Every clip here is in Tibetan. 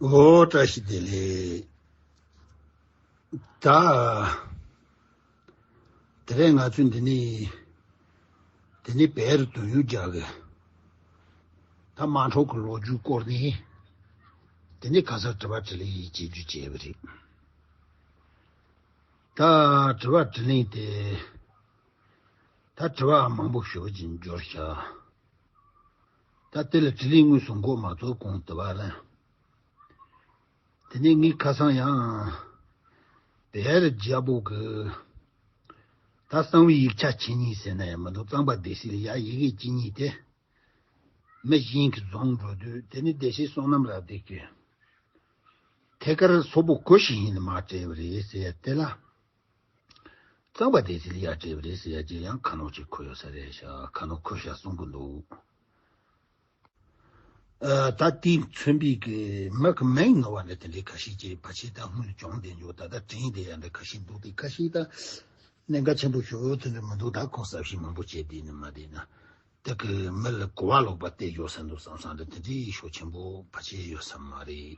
ཨོ་བཀྲ་ཤིས་བདེ་ལེགས། དེ་རེད་ང་ཚོས་འདི་ནས་འདི་ནས་བལ་རུ་དོན་ཡོད་རྒྱག་གི། ད་དམའ་འཁྲོག་གི་ལོ་རྒྱུས་སྐོར་ནས་འདི་ནས་ག་སར་དྲི་བ་དྲི་ལན་ཡིག་བྱེད་རྒྱུ་བྱས་པ་རེད། ད་དྲི་བ་དྲི་ལན་དེ་ད་དྲི་བ་མང་པོ་ཞུ་རྒྱུ་འབྱོར་བཞག། ད་དེ་ལ་དྲི་ལན་དངོས་སུ་འགོག་མ་རྫོགས་གོང་དུ་བ་ལན། དེ་ནས་ངའི་ཁ་སང་ཡང། བེ་རི་རྒྱལ་པོ་གི། ད་གསང་བའི་ཡིག་ཆ་ཇི་སྙེད་ཟེར་ན་ཡང་མི་འདུག་གཙང་པ་སྡེ་སྲིད་ལ་ཡང་ཡི་གེ་གཅིག་གཉིས་དེ། མི་གཞན་གྱིས་བཟུང་འགྲོ་དུས་དེ་ནི་སྡེ་སྲིད་བསོད་ནམས་རབ་བདེ་ཀྱིས། ཐད་ཀར་སོག་པོ་གོ་ཞིག་ཡིན་ནི་མ་བྲལ་བ་རེད་ཟེར་དེ་ལ། གཙང་པ་དེ་ཚིལ་གཡག་བྲེས་པ་རེད་ཟེར་ཡ་གྱིས་ཡང་ཁ་ནོག་ཅིག་འཁོར་ཡོད་ས་རེད་ཤག་ཁ་ནོག་འཁོར་ཤག་གསུང་གི་འདུག། ད་ལྟའི་མཚོན་དཔེ་གི་མི་གི་མིང་ནོར་བ་འདྲ་དེ་འདྲའི་ཁ་ཤས་ཀྱི་བ་ཕྱི་ད་སྔོན་སྦྱོང་བསྡད་མྱོང་ད་ལྟ་དྲན་བསྡད་ཡ་འདྲ་ཁ་ཤས་འདུག་དེ་ཁ་ཤས་ད་གནད་འགག་ཆེན་པོ་ཞུ་འོས་དོན་འདྲ་མི་འདུག་ད་ཁོང་གསབ་བཤད་མང་པོ་བྱས་བསྡད་ནས་མ་བསྡད་ན་དེ་གི་མི་ལ་གོ་བ་ལོག་པ་བལྟས་ཡོད་ས་འདུག་བསམ་བསམ་འདྲ་དེ་འདྲའི་ཤོག་ཆེན་པོ་བ་བྱས་ཡོད་ས་མ་རེད།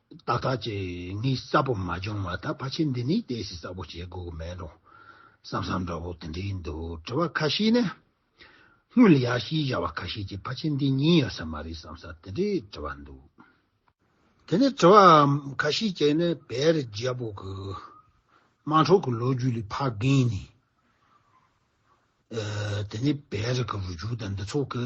ཏག་ཏག་ཅིག་ངའི་གསལ་པོ་མ་བྱུང་བ་ད་ཕ་ཆེ་འདི་ནས་བལྟས་ཤིག་གསལ་པོ་བྱེད་དགོས་མེད་རུང་བསམ་བསམ་འདྲ་བོ་དེ་འདྲའི་འདུག་དྲི་བ་ཁ་ཤས་ནི། སྔོན་ལ་ཡར་ཤེས་བྱ་བ་ཁ་ཤས་ཀྱིས་ཕ་ཆེ་འདི་ཉན་ཡོད་ས་མ་རེད་བསམ་ས་དེ་འདྲའི་དྲི་བ་འདུག་དེ་ནས་དྲི་བ་ཁ་ཤས་ཀྱིས་ནི་བེ་རི་རྒྱལ་པོ་གི་དམངས་ཁྲོད་ཀྱི་ལོ་རྒྱུས་ལས་ཕ་རྒན་ནས། དེ་ནས་བེ་རི་གི་རུ་རྒྱུག་དང་འདི་ཚོ་གི།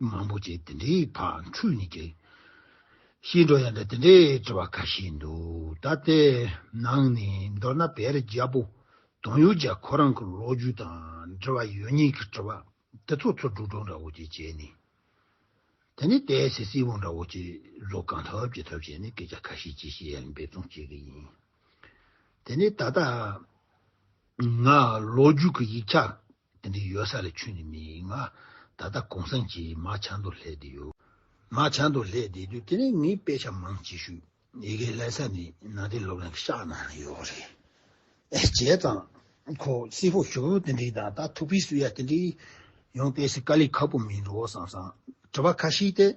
མང་པོ་བྱས་དེ་འདྲའི་བར་འཁྲུལ་ནས་ཀྱི། ཤེས་འགྲོ་ཡང་འདྲ་དེ་འདྲའི་དྲི་བ་ཁ་ཤས་འདུག་ད་ལྟའི་ནང་ནས་མདོར་ན་བེ་རི་རྒྱལ་པོ་དང་ཡུལ་གྱར་ཁོ་རང་གི་ལོ་རྒྱུས་དང་འབྲེལ་བ་ཡོད་ཉེས་ཀྱི་དྲི་བ་དེ་ཚོ་ཚོ་འབྲུག་སྒྲོག་འདྲ་བོ་ཅིག་བྱས་ནས་དེ་ནས་དེའི་ཟེར་སིལ་བུ་འདྲ་བོ་ཅིག་བཟོ་གང་ཐུབ་ཅི་ཐུབ་བྱས་ནས་སྐད་ཆ་ཁ་ཤས་ཅི་ཤེས་ཡང་འབད་བརྩོན་བྱེད་ཀྱི་ཡིན། དེ་ནས་ད་ལྟ་ང་ལོ་རྒྱུས་ཀྱི་ཡིག་ཆ་དེ་འདྲའི་ཡོད་ས་ལས་ཆུད་ནས་མི་ཡིན་ང། ད་ལྟ་གོང་སངས་ཀྱི་མ་བྱང་དུ་ལྷས་བསྡད་ཡོད། མ་བྱང་དུ་ལྷས་བསྡད་དུས་དེ་རིང་ངས་དཔེ་ཆ་མང་ཅི་ཞུ། ཡི་གེ་ལས་ས་ནི་ནང་དེ་སློབ་གླིང་གི་ཤག་ནང་ལ་ཡོད་རེད། བྱས་ཙང། ཁོ་སི་ཧོ་ཞོ་བོ་དེ་འདྲའི་དང་ད་ཐུག་པའི་སུ་ཡ་དེ་འདྲའི། ཡང་དཔེ་སི་ཀ་ལས་ཁག་པོ་མིན་འགྲོ་བསམ་སང། དྲི་བ་ཁ་ཤིག་སྟེ།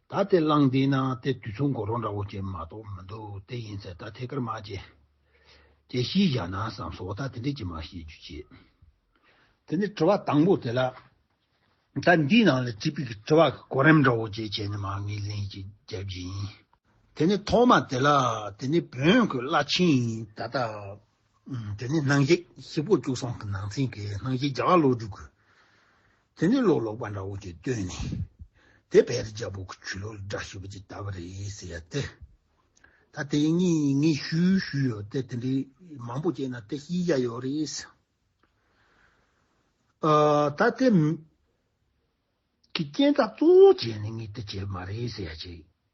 ད་དེ་བླངས་བསྡད་ན་དེ་དུས་ཚོད་འགོར་རོགས་འདྲ་བོ་བྱེད་མ་གཏོགས་མི་འདུག་དེ་ཡིན་ཚེ་ད་ཐད་ཀར་མ་བྱེད། ཅེས་ཤེས་བཞག་ན་བསམས་སོ་ད་དེ་འདྲས་ཀྱི་མ་བྱེད་རྒྱུ་བྱེད། དེ་ནས་དྲི་བ་དང་པོ་དེ་ལ་ད་འདིའི་ནང་ལ་དྲིས་པའི་གི་དྲི་བ་གི་གོ་རིམ་འདྲ་བོ་བཅས་བྱས་ནས་མ་ངེས་ལན་གཅིག་བརྒྱབ་རྒྱུ་ཡིན། དེ་ནས་ཐོག་མ་དེ་ལ་དེ་ནས་བོན་གི་བླ་ཆེན་ཡིན་ད་ལྟ། དེ་ནས་སྣང་བྱེད་ཤི་པོ་བཅུ་གསུམ་གི་ནང་ཚན་གི་སྣང་བྱེད་བརྒྱ་བ་བློ་གྲོས་གི། དེ་ནི་ལོག་ལོག་པ་འདྲ་བོ་ཅིག་བཏོན་ནས་དེ་བེ་རི་རྒྱལ་པོ་གི་ཆོས་ལུགས་ལ་དགྲ་བྱེད་པ་ཅིག་བལྟ་བ་རེད་ཟེར་ཡ་དེ། ད་དེ་གཉིས་ངས་ཞུས་ཞུས་ཡོད་དེ་དེ་འདྲའི་མང་པོ་བྱས་ན་དེ་ཤེས་རྒྱ་ཡོད་རེད། ད་དེ། གི་རྐྱེན་རྩ་གཙོ་བོ་བྱས་ནས་ངས་དེ་བྱས་པ་མ་རེད་ཟེར་ཡ་བྱས།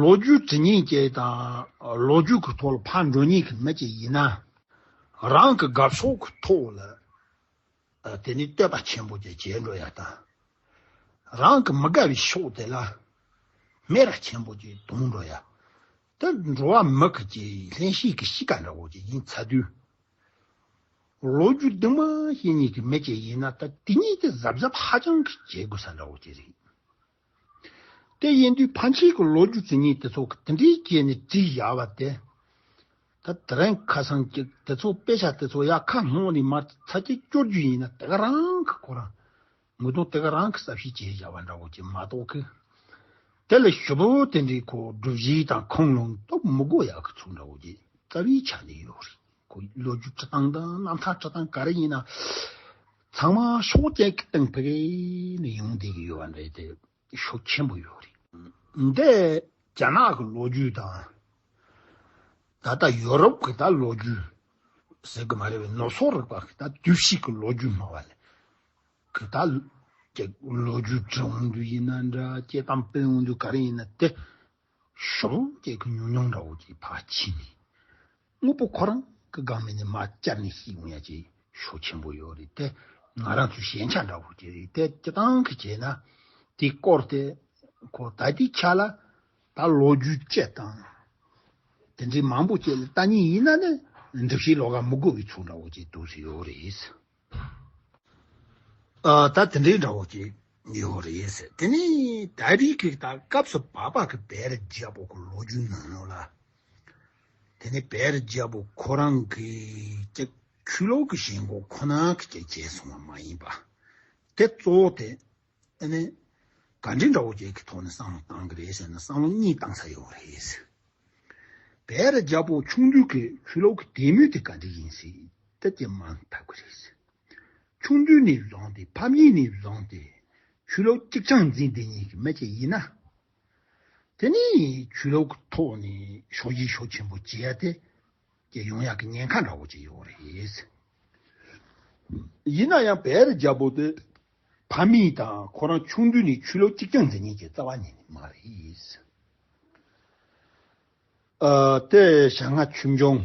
ལོ་རྒྱུས་དེ་ཉིད་ཀྱི་དང་ལོ་རྒྱུས་ཀྱི་ཐོག་ལ་ཕར་འགྲོ་ཉེས་ཀྱི་མེད་ཅེས་ཡིན་ན། རང་གི་དགའ་ཕྱོགས་ཀྱི་ཐོག་ལ་དེ་ནི་བསྟོད་པ་ཆེན་པོ་ཅིག་བྱེད་འགྲོ་ཡ་དང། རང་གི་མི་དགའ་བའི་ཕྱོགས་དེ་ལ་སྨད་ར་ཆེན་པོ་ཅིག་གཏོང་འགྲོ་ཡ། འདི་འགྲོ་བ་མི་གཅིག་ལྷན་ཞིག་གི་གཤིས་ཀ་འདྲ་བོ་ཅིག་ཡིན་ཚ་དུས། ལོ་རྒྱུས་འདི་མ་ཧེ་གཉིས་ཀྱི་མེ་ལྕེ་ཡིན་ན་ད་དེ་གཉིས་ཀྱི་གཟབ་གཟབ་ཧ་ཅང་གི་བྱེད་དགོས་ས་འདྲ་བོ་དེ་རེད། དེ་ཡིན་དུས་ཕ་མཆིས་ཀྱི་ལོ་རྒྱུས་དེ་གཉིས་དེ་ཚོ་གི་དེ་འདྲའི་རྐྱེན་ནས་བྲིས་བཞག་པ་དེ། ད་དེ་རིང་ཁ་སང་གི་དེ་ཚོ་དཔེ་ཆ་དེ་ཚོ་ཡ་ཁ་སྔོན་ནས་མར་ཚ་རྒྱས་སྐྱོར་རྒྱུ་ཡིན་ན་དེ་ག་རང་གི་ཁོ་རང་ངོ་གདོང་སྟེ་ག་རང་གི་ས་བཞི་བྱས་བཞག་པ་འདྲ་བོ་ཅིག་མ་གཏོགས་ཀི། དེ་ལ་ཞོ་པོ་དེ་འདྲའི་ཁོག་སྒྲུབ་བཞི་དང་ཁང་ལུང་སྟོབས་མི་གོ་ཡག་གི་ཚུགས་འདྲ་བོ་ཅིག་རྩ་བའི་ཆ་ནས་ཡོད་རེད་ཁོ་ཡི་ལོ་རྒྱུས་འཁྲིད་སྟངས་དང་རྣམ་ཐར་འཁྲིད་སྟངས་ག་རེ་ཡིན་ན། ཚང་མ་ཕྱོགས་གཅིག་གི་སྟེང་ཕེབས་ནས་ཡོང་བསྡད་ཀྱི་ཡོད་པ་འདྲ་རེད་དེ། ཤུགས་ཆེན་པོ་ཡོད་རེད། འདི་རྒྱ་ནག་གི་ལོ་རྒྱུས་དང། ད་ལྟ་ཡོ་རོབ་ཀྱི་ད་ལོ་རྒྱུས་ཟེར་གི་མ་རེད་བས་ནོར་སོག་རིག་པ་གི་ད་བསྡུ་བཤིག་གི་ལོ་རྒྱུས་སྨྲ་བ་ལས་གི་ད་ལོ་རྒྱུས་འབྲི་འོང་དུས་ཡིན་ན་འདྲ་སྐྱེ་ཁམས་སྤེལ་འོང་དུས་ག་རེ་ཡིན་ན་དེ་གཞོགས་གླུ་སྐད་ཀྱི་ཉུང་ཉུང་འདྲ་བོ་ཀྱི་བར་ཕྱིན་ནས། དངོས་པོ་ཁོ་རང་གི་སྒང་མེད་ནས་མ་བསྐྱར་ནས་ཤིག་ཡོང་ཡ་ཅི་ཞོ་ཆེན་པོ་ཡོད་རེད་དེ། ང་རང་ཚོའི་ཞན་ཆ་འདྲ་བོ་ཅི་རེད་དེ་སྤྱི་བཏང་གི་བྱས་ན། དེ་སྐོར་དེ་ཁོ་ད་དེ་ཆ་ལ་ད་ལོ་རྒྱུས་བཅད་དང། དེ་འདྲའི་མང་པོ་བཅད་ལ་ལྟ་ཉེན་ཡིན་ན་ནི་སྒྲིག་གཞིའི་ལོ་ག་མི་དགོས་པའི་ཚུལ་འདྲ་བོ་ཅི་འདུག་ཟེར་ཡོད་རེད། ད་དེ་འདྲའི་འདྲ་བོ་ཞིག་ཡོད་རེད་ཟེར། དེ་ནས་ད་རིགས་ཀྱི་ད་སྐབས་སུ་བག་ཕབ་ཀྱི་བེ་རི་རྒྱལ་པོ་གི་ལོ་རྒྱུས་ནང་ལ། དེ་ནས་བེ་རི་རྒྱལ་པོ་ཁོ་རང་གི་ཀྱི་ཆོས་ལོག་གི་བཞེད་འགོ་ཁོ་ན་གྱི་ཀྱི་བྱས་སོང་བ་མ་ཡིན་པ། དེ་གཙོ་བོ་དེ། ཨ་ནི། ག་འདྲའི་འདྲ་བོ་བརྒྱད་ཀྱི་ཐོག་ནས་སང་ལོ་བཏང་གི་རེད་ཟེར་ན་སང་ལོ་གཉིས་བཏང་ས་ཡོད་རེད་ཟེར། བས་ར་རྒྱ་བོ་ཆུང་དུས་ཀྱི་ཆུ་ལོག་གི་དད་མོས་དེ་ག་འདྲའི་ཡིན་སྲིད་ད་ཀྱི་མ་ཐབས་ཀྱི་རེད་ཟེར། ཆུང་དུས་ནས་བཟུང་སྟེ་ཕམ་ཉེས་ནས་བཟུང་སྟེ་ཆུ་ལོག་གཅིག་ཆང་འཛིན་འདི་གཉིས་ཀྱི་མི་གཅིག་ཡིན་ན། དེ་ནས་ཆུ་ལོག་གི་ཐོག་ནས་ཤོག་ལྗིད་ཤོག་ཆེན་པོ་བྱས་ཏེ། ཀྱི་ཡོང་ཡག་གི་ཉེན་ཁ་འདྲ་བོ་ཅིག་ཡོད་རེད། ཡིན་ན་ཡང་བེ་རི་རྒྱལ་པོ་དེ་ཕ་མེས་དང་ཁོ་རང་ཆུང་དུས་ནས་ཆུ་ལོག་གཅིག་རྐྱང་འཛིན་མཁན་གྱི་རྩ་བ་ཉིད་ནི་མ་རེད། དེ་བྱ་ང་ཆུ་མཆོང་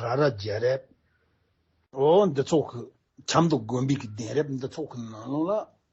ར་ར་རྒྱལ་རབས། འོ་འདི་ཚོགས་ཀྱི་ཆབ་མདོ་དགོན་པའི་གདན་རབས་འདི་ཚོགས་ཀྱི་ནང་ལོགས་ལ་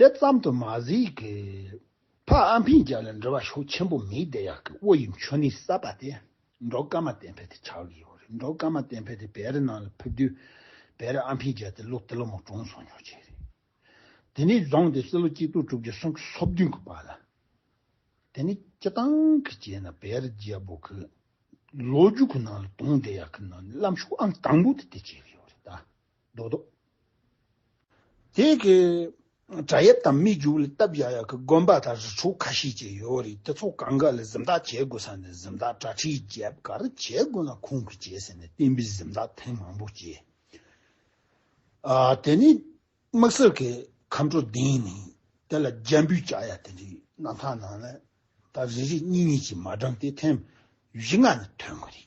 དེ་ཙམ་དུ་མ་ཟིག་གི། ཕ་ཨ་འཕིན་རྒྱལ་ལ་འབྲེལ་བ་ཤུགས་ཆེན་པོ་མེད་དེ་ཡག་གི་དབུ་ཡི་མཆོད་གནས་གསར་པ་དེ་འབྲོག་དཀར་མ་བསྟན་འཕེལ་དེ་ཆགས་གི་ཡོད་རེད་འབྲོག་དཀར་མ་བསྟན་འཕེལ་དེ་བེ་རི་ནང་ལ་ཕེབས་དུས་བེ་རི་ཨ་འཕིན་རྒྱལ་དེ་ལོ་དེ་ལོ་མོ་གྲོངས་སོང་ཉོག་བྱས་རེད་དེ་ནས་བཟུང་སྟེ་སྲིད་ལོ་གཅིག་དུག་གྲུབ་ཀྱི་སྲོང་གི་སོ་བདུན་གི་བར་ལ་དེ་ནས་སྤྱི་བཏང་གི་བྱས་ན་བེ་རི་རྒྱལ་པོ་གི་ལོ་རྒྱུས་གི་ནང་ལ་དུང་དེ་ཡག་གི་ནང་ནས་བླ་མཆོད་ཨང་དང་པོ་དེ་དེ་བྱས་གི་ཡོད་རེད་ད། རྡོག་རྡོག། དེ་གི་བྲག་ཡབ་དང་སྨི་རྒྱུག་ལ་སྟབས་ཡག་ཡག་གི་དགོན་པ་དང་རི་ཕྲུག་ཁ་ཤས་ཀྱི་ཡོད་རེད་དེ་ཚོ་གང་ག་ལ་གཟིམ་འདག་བྱེད་དགོས་ས་ནས་གཟིམ་འདག་གྲ་ཁྲིག་རྒྱབ་ག་རེ་བྱེད་དགོས་ན་ཁོང་གིས་བྱེད་ཟེར་ནས་བསྟན་པའི་གཟིམ་འདག་ཐེངས་མང་པོ་བྱས། དེ་ནས་དམག་སེར་གི་ཁམས་དྲོ་ལྡིང་ནས་དེ་ལ་རྒྱ་འབུད་བྱ་ཡ་དེ་འདྲའི་རྣམ་ཐང་ནང་ལ་ད་རེ་རེ་གཉིས་གཉིས་ཀྱིས་མ་བགྲང་སྟེ་ཐེངས་བཞི་ལྔ་ནི་ཐོན་གི་རེད།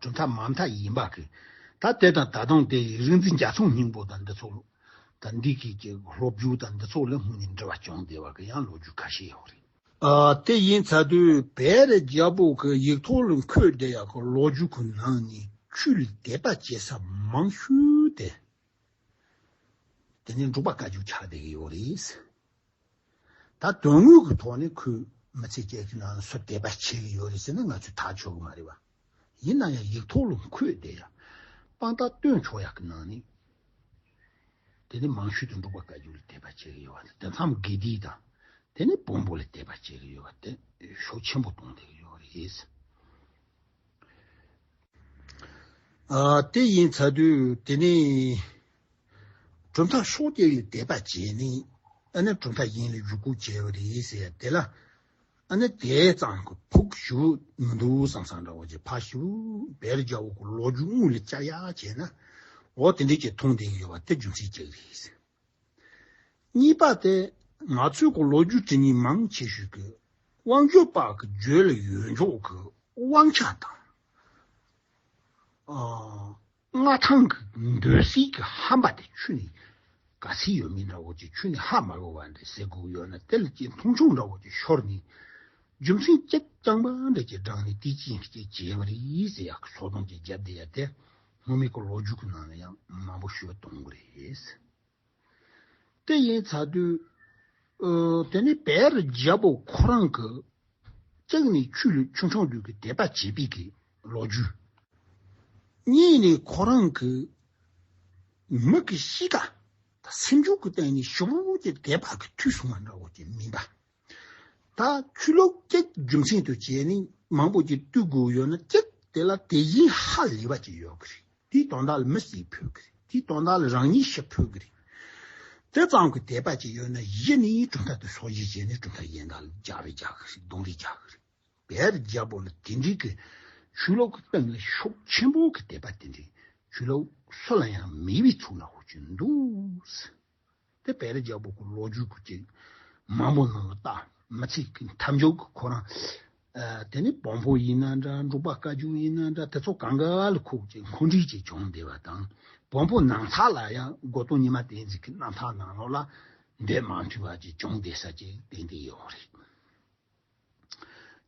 གྲུབ་མཐའ་མ་མཐའ་ཡིན་པ་གི། ད་དེ་དང་ད་དུང་དེ་ཡི་རིག་འཛིན་རྒྱ་མཚོ་སྙིང་པོ་དང་འདི་ཚོགས། ད་འདི་གི་གི་སློབ་བརྒྱུད་དང་འདི་ཚོགས་ལས་སྔོན་ནས་འབྲེལ་བ་བྱུང་བསྡད་པ་གི་ཡང་ལོ་རྒྱུས་ཁ་ཤས་ཡོད་རེད། དེ་ཡིན་ཚ་དུས་བེ་རི་རྒྱལ་པོ་གི་ཡིག་ཐོག་ལ་འཁོད་བསྡད་ཡག་གི་ལོ་རྒྱུས་ཀི་ནང་ནས་ཆུ་ལ་དད་པ་བྱེད་ས་མང་ཤོས་དེ། དེ་ནས་འབྲུག་པ་བཀའ་བརྒྱུད་ཆགས་བསྡད་གི་ཡོད་རེད། ད་དོན་དངོས་ཀྱི་ཐོག་ནས་ཁོས་མི་ཚེ་བརྒྱད་ཀྱི་ནང་ལ་སུ་དད་པ་བྱེད་ཀྱི་ཡོད་རེད་ཟེར་ན་ང་ཚོས་ཐག་ཆོད་གི་མ་རེད་བ། ཡིན་ན་ཡང་ཡིག་ཐོག་ལ་ཁོས་དེ་ཡང་དཔང་རྟགས་སྟོན་ཆོག་ཡག་གི་ནང་ནས་དེ་ནས་མང་ཤོས་དེ་འབྲུག་པ་བཀའ་བརྒྱུད་ལ་དད་པ་བྱེད་ཀྱི་ཡོད་བ་དང་དེ་མཚམས་དགེ་སྡིག་དང་དེ་ནས་བོན་པོ་ལ་དད་པ་བྱེད་ཀྱི་ཡོད་བ་དེ་ཤུགས་ཆེན་པོ་གཏོང་བསྡད་ཀྱི་ཡོད་རེད། དེ་ཡིན་ཚ་དུས་དེ་ནས། གྲུབ་མཐའ་ཤོག་བརྒྱད་ཡོད་དེ་པ་བཅས་ནི། ཨ་ནེ་གྲུབ་མཐའ་ཡིན་ལ་ཡུ་གུ་བྱེ་བ་རེད་ཟེར་དེ་ལ། ཨ་ནེ་དེ་ཙམ་གྱི་ཕུགས་ཞུ་མི་འདུག་བསམ་བསམ་འདྲ་བོ་ཅིག་ཕ་ཤི་བོ་བེ་རི་རྒྱལ་བོ་གི་ལོ་རྒྱུས་དངོས་ལས་བསྐྱར་ཡག་བྱས་ན། འོ་དེ་འདྲའི་ཅིག་མཐོང་ལྡན་ཡོད་པ་དེ་རྒྱུ་མཚན་གཅིག་རེད། གཉིས་པ་དེ་ང་ཚོས་གི་ལོ་རྒྱུས་དྲི་གཉིས་མང་ཆེ་ཤོས་ཀྱི་དབང་སྒྱུར་པ་གི་རྗོད་ལ་ཡོད་མགྱོགས་ཀྱི་དབང་ཆ་དང། མངའ་ཐང་གི་འདོད་གཟིགས་ཀྱི་ཧམ་པ་དེ་ཆུ་ནི་ག་ཚིལ་ཡོད་མིན་འདྲ་བོ་ཅིག་ཆུ་ནི་ཧ་མ་གོ་བ་འདྲའི་ཟས་གོག་ཡོད་ན་དེ་ལ་ཅི་མཐོང་ཆུང་འདྲ་བོ་ཅིག་ཤོར་ནས་རྒྱུ་མཚན་ཅད་རྐྱང་པ་འདྲ་ཅིག་བསྒྲགས་ནས་དེ་ཅིའི་ཕྱིར་བྱས་པ་རེད་ཟེར་ཡག་གི་ཚོགས་སྡོམ་གྱི་རྒྱབ་དེ་ཡ་དེ་སྔོན་མེད་གི་ལོ་རྒྱུས་ཀྱི་ནང་ལ་ཡང་མང་པོ་ཤོད་གཏོང་གི་རེད། དེ་ཡིན་ཚར་དུས། དེ་ནས་བེར་རྒྱལ་པོ་ཁོ་རང་གི་ལྕགས་ནི་ཆུ་ལུད་ཆུང་ཆུང་དུས་ཀྱི་དད་པ་བྱེད་པའི་གི་ལོ་རྒྱུས། གཉིས་ནས་ཁོ་རང་གི་མིག་གི་གཤིས་ཀ་དང་སེམས་ཕྱོགས་ཀྱི་སྟེང་ནས་ཞོགས་པ་པོ་ཀྱི་དད་པ་གི་མཐུས་བཟུང་བ་འདྲ་བོ་ཀྱི་མིན་པ། ད་ཆུ་ལོག་སྐྱེགས་རྒྱུ་མཚན་དུ་བྱས་ནས་མང་པོ་ཅིག་བཏུས་དགོས་ཡོད་ན་སྐྱེགས་དེ་ལ་དེ་བཞིན་ཧ་ལས་པ་ཅིག་ཡོད་གི་རེད་དེའི་དོན་དག་ལ་མི་སེར་ཕུད་གི་རེད་དེའི་དོན་དག་ལ་རང་ཉིད་ཤི་ཕོད་གི་རེད། དེ་ཙམ་གྱི་དད་པ་ཅིག་ཡོད་ན་གཞི་ནས་གྲུབ་མཐའ་དེ་སྲོག་བཞིན་བྱས་ནས་གྲུབ་མཐའ་ཡན་དག་ལ་རྒྱག་རེ་རྒྱག་གི་རེད་གདུང་རེ་རྒྱག་གི་རེད། བལ་རྒྱལ་པོ་ལ་དེ་འདྲིའི་གི་ཆུ་ལོག་གི་སྟེང་ལ་ཤུགས་ཆེན་པོ་གི་དད་པ་དེ་འདྲའི་ཆུ་ལོག་སུ་ལ་ཡང་མེད་པའི་ཚུལ་ལ་ཧོ་གྱིན་འདུག། དེ་བས་ལ་རྒྱ་བོད་ཀྱི་ལོ་རྒྱུས་ཀྱི་མང་པོ་ནང་ལ་བལྟ་མི་ཚིག་གི་མཐའ་མཇུག་གི་ཁོ་རང་དེ་ནི་བོང་བུ་ཡིན་ན་འདྲ་འབྲུག་པ་བཀའ་བརྒྱུད་ཡིན་ན་འདྲ་དེ་ཚོ་གངས་དཀར་ཁུག་ཅིག་མཁོ་འདྲིས་ཀྱིས་བྱུང་བསྡད་པ་དང་བོང་བུ་ནང་ཚ་ལ་ཡང་སྒོ་སྟོང་ཉི་མ་བསྟན་འཛིན་གྱི་རྣམ་ཐར་ནང་ལོགས་ལ་འདོད་མ་འཐུས་པ་ཅིག་བྱུང་བསྡད་ས་ཅིག་དེ་འདི་ཡོང་རེད།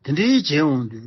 དེ་འདྲའི་བྱས་འོང་དུས་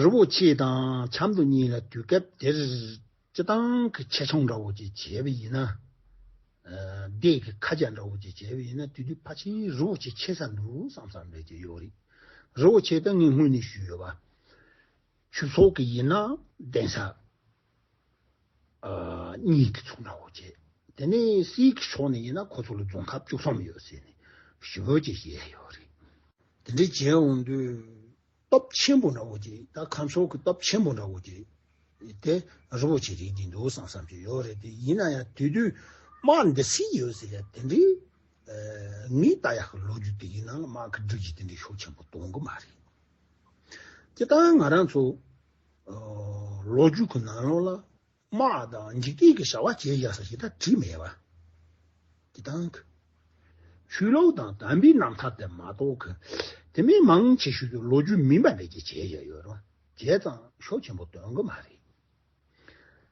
རི་བོ་ཆེ་དང་ཆབ་མདོ་གཉིས་ལ་དུས་སྐབས་དེར་སྤྱི་བཏང་གི་ཆེ་ཆུང་འདྲ་བོ་ཅིག་བྱས་པ་ཡིན་ན། སྡེ་དགེ་ཁ་སྦྱར་འདྲ་བོ་ཅིག་བྱས་པ་ཡིན་ན་དུས་དུས་ཕ་ཆེན་རི་བོ་ཆེ་ཆེ་ས་འདུག་བསམ་བསམ་རེ་བྱེད་ཡོད་རེད། རི་བོ་ཆེ་དང་ངས་སྔོན་ནས་ཞུས་ཡོད་པ། ཆུ་ཚོགས་ཀྱི་ཡིན་ན་གདན་ས། གཉིས་ཀྱི་ཚོགས་ནའོ་ཅེས་དེ་ནི་སྲིད་ཀྱི་ཕྱོགས་ནས་ཡིན་ན་ཁོ་ཚོ་ལ་རྫོང་ཁབ་བཅུ་གསུམ་ཡོད་ཟེར་ནས་ཞོལ་གྱི་གཞས་ཡོད་རེད། དེ་འདྲའི་གཞས་འོང་དུས་སྟོབས་ཆེན་པོ་འདྲ་བོ་ཅིག་ད་ཁམས་ཕྱོགས་ཀྱི་སྟོབས་ཆེན་པོ་འདྲ་བོ་ཅིག་དེ་རི་བོ་ཆེ་རིག་གི་འདུག་བསམ་བསམ་ཞིག་ཡོད་རེད་དེ་ཡིན་ན་ཡང་དུས་དུས་དམག་འདི་སྲིད་ཡོད་ཟེར་ཡ་དེ་འདྲའི་ངའི་ལྟ་ཡག་གི་ལོ་རྒྱུས་དེ་ཡིན་ན་དམག་གི་སྒྲིག་གཞི་དེ་འདྲའི་ཤོག་ཆེན་པོ་གཏོང་གི་མ་རེད། དེ་ལྟར་ང་རང་ཚོ་ལོ་རྒྱུས་ཀྱི་ནང་ལོགས་ལ་དམག་དང་འཇིག་རྟེན་གྱི་བྱ་བ་བྱེད་བཞག་ས་ཞིག་ད་བྲིས་མེད་པ་དེ་དང། ཆོས་ལུགས་དང་དམ་པའི་རྣམ་ཐར་དེ་མ་གཏོགས་དེ་མིན་མང་ཆེ་ཤོས་ཀྱི་ལོ་རྒྱུས་མིན་པ་འདྲ་བྱེད་བཞག་ཡོད་རུང་བྱས་ཙང་ཤོག་ཆེན་པོ་སྟོན་གི་མ་རེད།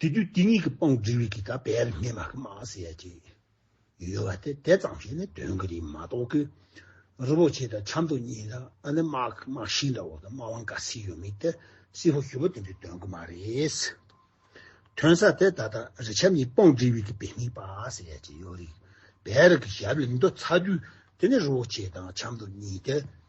དེ་དུས་དེ་གཉིས་ཀྱི་དཔང་བསྒྲིགས་རིགས་ཀྱི་དག་པའི་མི་མ་གི་མ་ཟེར་ཡ་གཅིག་ཡོད་པ་དེ་དེ་ཙམ་ཞིག་ནི་དོན་གྱི་རིགས་མ་གཏོགས་ཀི། རི་བོ་ཆེ་དང་ཆབ་མདོ་གཉིས་དང་ཨ་ནི་དམག་གི་དམག་ཤིང་འདྲ་བོ་དང་དམག་དབང་འགའ་ཟིག་ཡོད་མིན་དེ་སྲིད་ཧོ་ཞུ་བ་དེ་འདྲའི་དོན་གྱི་མ་རེད། དོན་ཟ་དེ་ད་ལྟ་རི་ཆབ་གཉིས་དཔང་བསྒྲིགས་རིགས་ཀྱི་པའི་མི་པ་ཟེར་ཡ་གཅིག་ཡོད་རིགས་པའི་རིགས་ཀྱི་ཞབས་ལ་མདོ་ཚ་དུས་དེ་ནི་རི་བོ་ཆེ་དང་ཆབ་མདོ་གཉིས་དེ།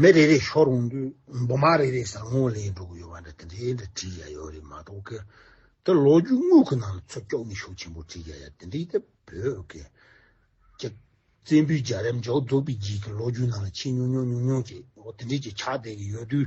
མི་རེ་རེ་ཤོར་འོང་དུས་འབུ་མ་རེ་རེ་བཟང་ངོ་ལེན་འགྲོ་གི་ཡོད་པ་འདྲ་དེ་འདྲའི་འདྲ་བྲིས་ཡ་ཡོད་རེད་མ་གཏོགས་ཀི་འདི་ལོ་རྒྱུས་དངོས་ཁུ་ནང་ལ་ཚོ་སྐྱོག་ནི་ཤུགས་ཆེན་པོ་བྲིས་ཡ་ཡ་དེ་འདྲའི་ཏེ་བོད་ཀི་ཀྱི་བཙན་པོའི་རྒྱ་རམ་འཇོག་རྫོགས་པའི་རྗེས་ཀྱི་ལོ་རྒྱུས་ནང་ལ་ཆེས་ཉུང་ཉུང་ཉུང་ཉུང་ཅིག་འོ་དེ་འདྲའི་ཅིག་ཆགས་བསྡད་གི་ཡོད་དུས་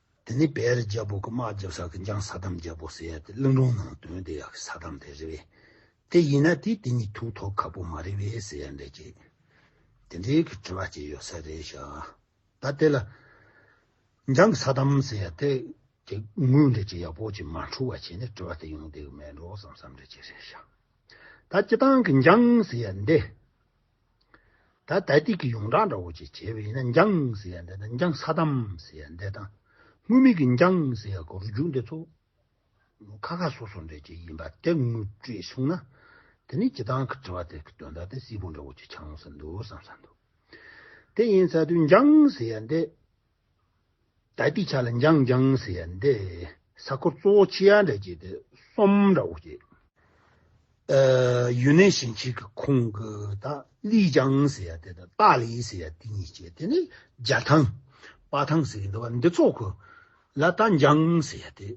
དེ་ནས་བེ་རི་རྒྱལ་པོ་ཀུ་མཱ་རྒྱབ་ས་ཀི་འཇང་ས་དམ་རྒྱལ་པོ་སེ་ཡ་དེ་གླིང་སྒྲུང་ནང་དོན་དེ་ཡག་གི་ས་དམ་དེ་རི་བེ། དེ་ཡིན་ན་དེས་དེ་གཉིས་ཐུག་ཐོག་ཁ་པོ་མ་རི་བེ་སེ་ཡ་འདྲེ་ཅེས། དེ་འདྲེ་གི་དྲི་བ་སྐྱེ་ཡོད་ས་རེད་ཤག་ད་དེ་ལ། འཇང་གི་ས་དམ་སེ་ཡ་དེ་དེ་དངོས་འདྲེ་ཅེས་ཡག་པོ་ཅིག་མ་འཁྲུལ་བ་བྱས་ནས་དྲི་བ་དེ་ཡོང་བསྡད་གི་མེད་འགྲོ་བསམ་བསམ་འདྲེ་ཅེས་རེད་ཤག་ད་སྤྱི་བཏང་གི་འཇང་སེ་ཡ་འདེ། ད་ལྟ་དུས་ཀྱི་ཡོངས་གྲགས་འདྲ་བོ་ཅིག་བྱས་པས་ཡིན་ན་འཇང་ཟེར་ཡ་འདི་དང་འཇང་ས་དམ་ཟེར་ཡ་འདི་དང་དངོས་མིང་གི་འཇང་ཟེར་ཡ་གོ་རུ་རྒྱུག་འདི་ཚོ་ཁ་ཁ་སོ་སོ་འདྲ་ཅིག་ཡིན་པ་དེ་ངོ་སྤྲོད་བྱུང་ན་དེ་ནི་སྤྱི་བཏང་གི་དྲི་བ་དེ་གི་དོན་དག་དེ་སིལ་བུ་འདྲ་བོ་ཅིག་ཆགས་འོང་ས་འདུག་བསམ་ས་འདུག་དེ་ཡིན་ཚ་དུས་འཇང་ཟེར་ཡ་འདི། ད་ལྟའི་ཆ་ལ་འཇང་འཇང་ཟེར་ཡ་འདི་ས་ཁུལ་གཙོ་བོ་ཆི་ཡ་འདྲ་བྱས་ཏེ་གསུམ་འདྲ་བོ་བྱས། ཡུན་ནན་ཞིང་ཆེན་གྱི་ཁུང་གི་དང་ལི་འཇང་ཟེར་ཡ་དེ་དང་ཏཱ་ལི་ཟེར་ཡ་དེ་གཉིས་བྱས་དེ་ནི་རྒྱ་ཐང། དཔའ་ཐང་ཟེར་གྱི་འདུག་བ་འདི་ཚོ་ཁུ་ལ་ད་འཇང་ཟེར་ཡ་དེ་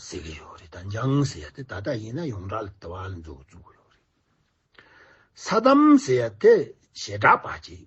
ཟེར་གྱི་ཡོད་རེད་ད་འཇང་ཟེར་ཡ་དེ་ད་ལྟ་ཡིན་ན་ཡོངས་གྲགས་ལ་དེ་བ་ལ་འཛུགས་བཙུགས་ཡོད་རེད། ས་དམ་ཟེར་ཡ་དེ་ཞེ་དྲག་པ་བྱས།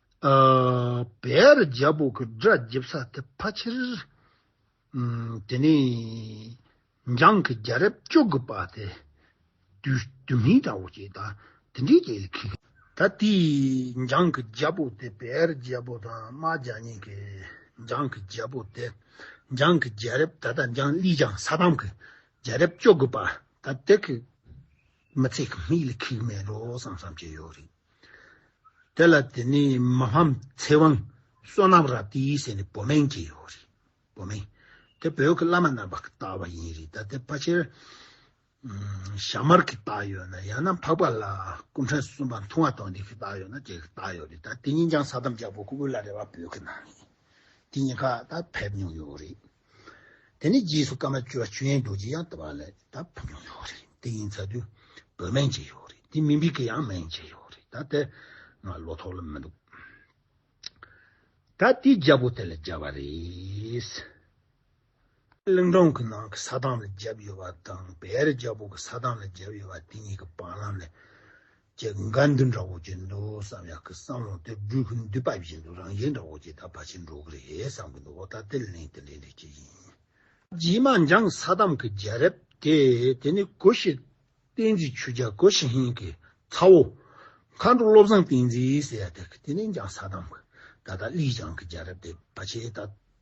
བེར་རྒྱ་སྦུག་གི་སྒྲ་འཇིབ་ས་དེ་ཕ་ཕྱིར། དེ་ནས་འཇང་གི་རྒྱ་རབས་བཅུ་དགུ་པ་དེ་བདུད་སྨིན་དང་འོ་སྐྱིད་དང་དེ་འདྲའི་རྒྱ་ཡིག་གི། ད་ལྟའི་འཇང་གི་རྒྱ་སྦུག་དེ་བེར་རྒྱ་སྦུག་དང་རྨ་རྒྱ་གཉིས་ཀྱི་འཇང་གི་རྒྱ་སྦུག་སྟེ། འཇང་གི་རྒྱ་རབས་ད་ལྟ་འཇང་གླིང་འཇང་ས་ཐང་གི་རྒྱ་རབས་བཅུ་དགུ་པ་ད་ལྟའི་མི་ཚེ་གི་མིག་ལ་ཁེགས་མེད་ལོ་བསམ་བསམ་བྱས་ཡོད་རེད། དེ་ལ་དེ་ནི་མ་ཕམ་ཚེ་དབང་བསོད་ནམས་རབ་སྟེ་ཡིད་བསྲེས་ནས་བོ་མེན་གྱི་ཡོ་རི། བོ་མེན། དེ་བོད་ཀྱི་བླ་མ་རྣམས་པ་གི་བཏགས་པ་ཡིན་རི་ད་དེ་ཕ་ཆེར་ཞྭ་དམར་གྱི་བཏགས་ཡོད་ན་ཡང་ན་འཕགས་པ་ལ་སྐུ་ཕྲེང་གསུམ་པ་མཐུང་བ་དང་དེ་གི་བཏགས་ཡོད་ན་དེ་གི་བཏགས་ཡོད་རི་ད་དེ་གཉིས་ཀྱང་ས་དམ་རྒྱལ་པོ་སྐུ་བོད་ལ་རེ་བ་བོད་ཀྱི་ནང་རི་དེ་གཉིས་ཀ་ད་ཕེབས་མྱོང་ཡོད་རི། དེ་ནས་རྗེས་སུ་བཀའ་མ་བཅོལ་བ་ཆོས་དབྱིངས་རྡོ་རྗེ་ཡང་དེ་བ་ལ་ད་བུ་ཆུང་ཡོད་རེད་དེ་ཡིན་ཚ་དུས་བོད་སྨན་བྱེད་ཡོད་རེད་དེ་མི་འབིག་གི་ཡང་སྨན་བྱེད་ཡོད་རེད་ད་དེ་ང་བློ་ཐོག་ལ་མི་འདུག་ད་དེའི་རྒྱལ་པོ་དེ་ལ་བརྒྱབ་བ་རེད། གླིང་སྒྲུང་གི་ནང་གི་ས་དང་ལ་བརྒྱབ་ཡོད་པ་དང་བེ་རི་རྒྱལ་པོ་གི་ས་དང་ལ་བརྒྱབ་ཡོད་པ་དེ་གཉིས་ཀྱི་བར་ལམ་ལས་ཀྱི་དགའ་འདུན་འདྲ་བོ་གྱི་འདུག་བསམ་ཡག་གི་སང་ལོ་དེབ་འབྲུ་ཁུ་འདི་པ་བཞིན་དུ་རང་བཞིན་འདྲ་བོ་གྱི་ད་བ་ཆེ་འགྲོ་གི་རེད་བསམ་གི་འདུག་ཨོ་ད་དེ་ལན་དེ་ལས་འགྲིག་གི་ཡིན། རྗེས་མ་འཇང་ས་དམ་གྱི་རྒྱལ་རབས་དེ་དེ་ནི་གོ་ཤྲི་བསྟན་འཛིན་ཆོས་རྒྱལ་གོ་ཤྲི་ཧན་གྱི་ཚ་བོ། མཁའ་འགྲོ་བློ་བཟང་བསྟན་འཛིན་ཟེར་ཡ་དེ་གི་དེ་ནི་འཇང་ས་དམ་གྱི་ད་ད་ལིས་ཅང་གི་རྒྱལ་རབས་དེ་བ་ཆེ་ད།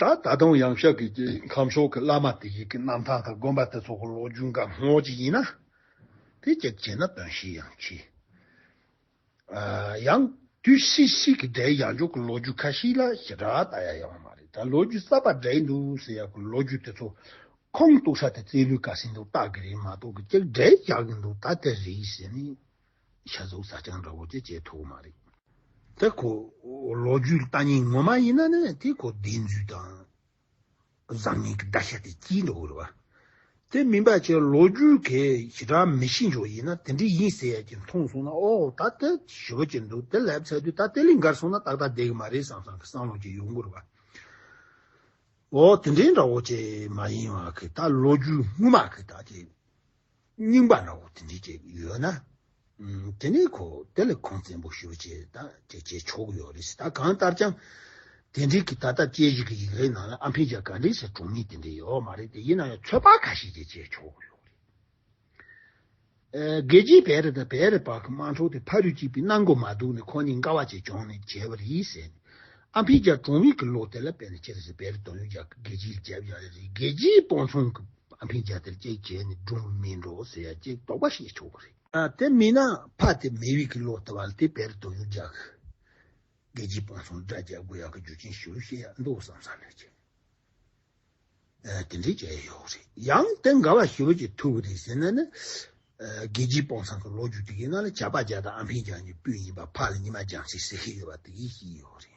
ད་ད་དུང་ཡང་ཤག་གི་ཁམས་ཕྱོགས་ཀྱི་བླ་མ་དེ་ཡི་གེ་རྣམ་ཐང་དང་དགོན་པ་དེ་ཚོ་གི་ལོ་རྒྱུས་འགའ་སྔོག་ཅིག་ཡིན་ན། དེ་ཅིག་བྱས་ན་དོན་ཞིག་ཡང་མཆིས། ཡང་དུས་སུ་ཤིག་གི་སྒྲའི་ཡང་ཕྱོགས་ཀྱི་ལོ་རྒྱུས་ཁ་ཤིག་ལ་ཞེ་དྲག་ལྟ་ཡ་ཡོང་མ་རེད་ད་ལོ་རྒྱུས་གསར་པ་སྒྲས་འདུག་ཟེར་ཡག་གི་ལོ་རྒྱུས་དེ་ཚོ་ཁོང་གཏུག་ས་དེ་རྩེད་ལུས་དཀའ་སེ་འདུག་བརྟག་གི་རེད་མ་གཏོགས་གི་ཅིག་སྒྲས་རྒྱག་གི་འདུག་ད་དེ་རེད་ཟེར་ནས་ཤ་གཟུགས་བཟའ་བཅང་འདྲ་བོ་དེ་བྱེད་ཐུབ་མ་རེད། དེ་ཁོ་ལོ་རྒྱུས་ལྟ་ཉེན་ངོ་མ་ཡིན་ན་ནི་དེ་ཁོ་བདེན་རྫུན་དང་བཟང་ངན་གྱི་བརྡ་ཤ་དེ་གྱིས་འདུག་རེད་བ། དེ་མིན་པ་ཆེ་ལོ་རྒྱུས་གས་ཞི་དྲག་མི་ཤེས་མཆོག་ཡིན་ན་དེ་འདྲས་ཡིན་ཟེར་ཡ་གྱི་མཐོང་སོང་ན་ཨོ་ད་དེ་ཞི་བ་གྱི་འདུག་དེ་ལབ་ཚད་དུས་ད་དེ་ལས་འགར་སོང་ན་ཏག་ཏག་བསྡད་གི་མ་རེད་བསམ་བསམ་གི་སང་ལོ་གྱི་ཡོང་གི་རེད་བ། ཨོ་དེ་འདྲས་འདྲ་བོ་ཅེས་མ་ཡིན་བ་གི་ད་ལོ་རྒྱུས་དངུལ་མ་གི་ད་དེ། རྙིང་པ་ལ་འོ་དེ་འདྲའི་སྐྱེས་བུ་ཡོད་ན། དེ་ནས་ཁོ་དེ་ལ་ཁུངས་བཙན་པོ་ཞུ་ཅེས་ད་དེ་བྱས་ཆོག་ཡོད་རེད་ད་གང་ལྟར་ཀྱང། དེ་འབྲེལ་གྱི་ད་ལྟ་དཔྱད་གཞི་གི་ཡིག་རའི་ནང་ལ་ཨ་ཕའི་རྒྱ་གར་ལས་སའི་གྲོང་མི་དེ་འདྲ་ཡོད་མ་རེད་དེ་ཡིན་ན་ཡང་ཚོད་དཔག་ཁ་ཤས་ཀྱིས་བྱས་ཆོག་གི་ཡོད་རེད། རྒྱལ་སྤྱིའི་བེ་རི་དང་བེ་རི་བར་གྱི་དམངས་ཁྲོད་དེ་ཕ་རུས་སྐྱིད་པའི་གནང་སྒོ་མ་འདུག་ནས་ཁོ་གཉིས་དགའ་བ་བྱས་ཆོག་ནས་བྱས་པ་རེད་ཟེར་ནས། ཨ་ཕའི་རྒྱ་གྲོང་མི་གི་ལོ་དེ་ལ་བལྟས་ན་ཁྱེད་རེ་ཟའི་བེ་རི་དོན་ཡོད་རྒྱ་གར་རྒྱལ་སྤྱིའི་ལ་བྱས་པ་ཡག་རེད་རེད་རྒྱལ་སྤྱིའི་སྤོང་ཚུང་གི། སྤང་ཕན་བྱ་དེར་གཅིག་བྱས་ནས་སྒྲུང་སྨིན་འགྲོ་ཟེར་ཡ་གཅིག་དོགས་པ་ཞིག་ཆོག་གི་རེད། དེ་མིན་ན་ཕ་དེ་མི་བིག་གི་ལོག་ལྟ་བ་ལ་དེ་བེར་དོ་ཡུག་རྒྱག་གི། རྒྱལ་སྤྱིའི་སྤང་གསུམ་དགྲ་རྒྱག་དགོས་ཡག་གི་རྒྱུ་ཅན་ཞིག་རུ་བཤད་ཡག་འདུག་བསམ་བསམ་ནས་བྱས། དེ་འདྲས་བྱས་ཡག་ཡོག་རེད་ཡང་དེ་འགའ་བ་ཞིག་རུ་བྱེད་ཐུབ་གི་རེད་ཟེར་ན་ནི། རྒྱལ་སྤྱིའི་སྤང་གསང་གི་ལོག་རྒྱུ་དེ་གི་ནང་ལ་བྱ་ཕ་བྱ་དང་ཨ་ཕན་བྱ་གཉིས་པོས་ཡིན་པ་ཕ་ལ་ཉི་མ་རྒྱང་ཚིག་ཟེར་གི་ཡོད་པ་དེ་གི་ཞིག་ཡོག་རེད།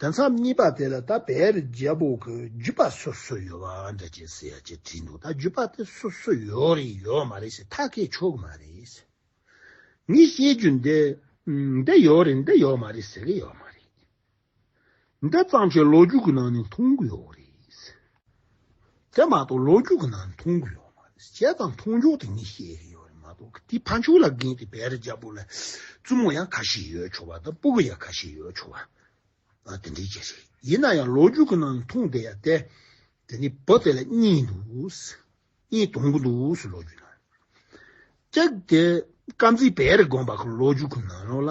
དེ་མཚམས་གཉིས་པ་དེ་ལ་ད་བེ་རི་རྒྱལ་པོ་གི་རྒྱུད་པ་སོ་སོ་ཡོད་པ་འདྲ་ཅེས་ཟེར་ཡ་ཅེས་བྲིས་འདུག་ད་རྒྱུད་པ་དེ་སོ་སོ་ཡོད་རེད་ཡོད་མ་རེད་ཞེས་ཐག་གིས་ཆོད་གི་མ་རེད། ངས་བཤད་རྒྱུ་འདི་འདི་ཡོད་རེད་འདི་ཡོད་མ་རེད་ཟེར་གི་ཡོད་མ་རེད། འདི་གཙང་ཆོས་ལོ་རྒྱུས་ཀྱི་ནང་ནས་མཐོང་གི་ཡོད་རེད། དེ་མ་གཏོགས་ལོ་རྒྱུས་ཀྱི་ནང་མཐོང་རྒྱུ་ཡོད་མ་རེད། བྱས་ཙང་མཐོང་ཆོག་དེ་གཉིས་བཤད་ཀྱི་ཡོད་རེད་མ་གཏོགས་དེ་ཕ་མཆོག་ལ་འགན་དེ་བེད་རྒྱབ་པོ་ལ་བཙུན་མོ་ཡང་ཁ་ཤས་ཡོད་ཆོག་པ་དང་སྤུ་གུ་ཡང་ཁ་ཤས་ཡོད་ཆོག་པ་དེ་འདྲའི་རྒྱ་རེད། ཡིན་ན་ཡང་ལོ་རྒྱུས་ཀྱི་ནང་མཐོང་བསྡད་ཡ་བསྡད། དེ་ནས་བུ་དེ་ལ་གཉིས་འདུག་གཉིས་དོང་གི་འདུག་ལོ་རྒྱུས་ནང། ཀྱེ་དཀར་མཛེས་བེད་རེ་དགོན་པ་གྱི་ལོ་རྒྱུས་ཀྱི་ནང་ལོགས་ལ།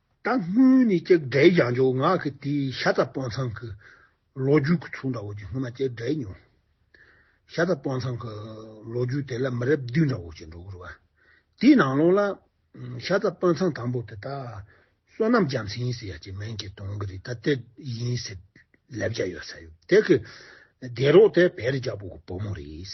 ད་སྔོན་ནས་སྐྱེ་དགའི་རྒྱང་འཇོག་ངག་གི་དེའི་ཤ་ཚ་སྤང་ཚང་གི་ལོ་རྒྱུས་ཀྱི་ཚུགས་འདྲ་བོ་ཅིག་སྔོན་མ་སྐྱེ་དགའི་མྱོང། ཤ་ཚ་སྤང་ཚང་གི་ལོ་རྒྱུས་དེ་ལ་མི་རབས་བདུན་འདྲ་བོ་ཅིག་འགྲོ་གི་རེད་བ། དེའི་ནང་ལོགས་ལ། ཤ་ཚ་སྤང་ཚང་དང་པོ་དེ་དག་བསོད་ནམས་རྒྱ་མཚན་ཡིན་ཟེར་ཡ་གཅིག་མིང་གིས་གཏོང་གི་རེད་ད་དེ་ཡིན་ཟེར་ལབ་བྱ་ཡོད་ས་ཡོད། དེ་གི་སྡེ་རོགས་དེ་བེ་རི་རྒྱལ་པོ་གི་བུ་མོ་རེད།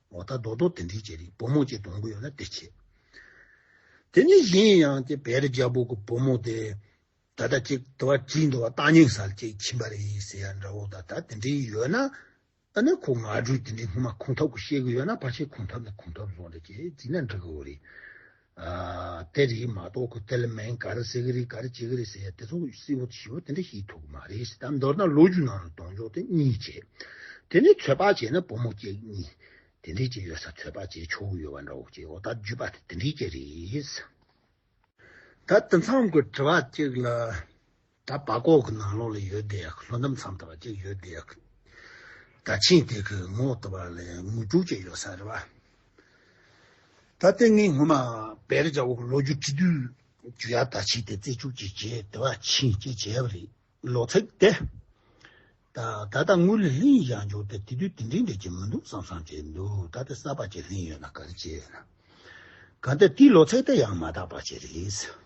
ལོག་ལྟ་རྡོག་རྡོག་དེ་འདྲའི་རྗེ་རིགས་བུ་མོ་ཅིག་གདོང་དགུ་ཡོད་ན་བདེ་ཆེ། དེ་ནི་གཞན་ཡང་སྟེ་བེ་རི་རྒྱལ་པོ་གི་བུ་མོ་དེ། ད་ལྟ་ཅིག་དུ་བ་ཅིག་འདུག་བ་རྟ་སྙིང་སར་ཅིག་ཕྱིན་པ་རེད་ཡིན་ཟེར་ཡ་འདྲ་བོ་ད་ལྟ་དེ་འདྲའི་ཡོད་ན། ད་ནི་ཁོ་ང་དྲུག་དེ་འདྲའི་སྔོན་མ་ཁུངས་ཐོབ་གི་ཤེས་གི་ཡོད་ན་ཕར་ཕྱིན་ཁུངས་ཐོབ་ནི་ཁུངས་ཐོབ་སོང་རེད་ཅེས་རྫིག་ན་འགྲིག་གི་འོ་རེད། གཏེར་རིགས་མ་གཏོགས་ཁུ་ཏལ་མན་དཀར་གསེར་གྱི་རིགས་དཀར་ལྕེ་གི་རིགས་ཟེར་ཡ་དེ་ཚོ་བསིལ་བོ་ཞིམ་བོ་དེ་འདྲ་ཞིག་ཐུག་གི་མ་རེད་ཟེར་ད་མདོར་ན་ལོ་རྒྱུས་ནང་ལ་གདོང་འཇོག་དེ་གཉིས་བྱེད། དེ་ནས་ཚོད་དཔག་བྱས་ན་བུ་མོ་སྐྱེས་གཉིས་དེ་འདྲའི་སྐྱེས་ཡོད་ས་ཚོད་དཔག་བྱས་ཆོག་གི་ཡོད་བ་འདྲ་བོ་སྐྱེས་ཡོད་ད་བརྒྱུད་པ་དེ་དེ་འདྲའི་སྐྱེས་རེད། ད་དེ་མཚམས་ཀྱི་དྲི་བ་གཅིག་ལ། ད་བ་ཀོག་གི་ནང་ལོགས་ལ་ཡོད་དེ་ལྷོ་འདམ་མཚམས་དང་བ་གཅིག་ཡོད་དེ། ད་ཆིངས་དེ་གི་ངོགས་དུ་བ་ལ་ངུ་དྲུག་ཅིག་ཡོད་ས་རེད་བ། ད་ལྟེ་ངས་ངོ་མ་བེ་རི་ཇའོ་གི་ལོ་རྒྱུ་བྲི་དུས་རྒྱུ་ཡ་ད་ཆིངས་དེ་རྩེ་ཆུག་ཅིག་བྱས་དེ་བ་ཆིངས་ཅིག་བྱས་བ་རེད་ལོ་ཚིགས་དེ། ད་ད་ལྟ་ངུ་ལི་ལིང་ཡང་བྱུང་དེ་དེ་དུས་དེ་འདྲིའི་འདྲི་གྱི་མི་འདུག་བསམ་བསམ་བྱས་འདུག་ད་ལྟེ་ས་བ་ཅིག་ལིང་ཡོད་ན་ག་རེ་བྱས་ཡོད་ན། ག་ད་དེའི་ལོ་ཚིགས་དེ་ཡང་མ་དག་བ་ཅིག་རེད།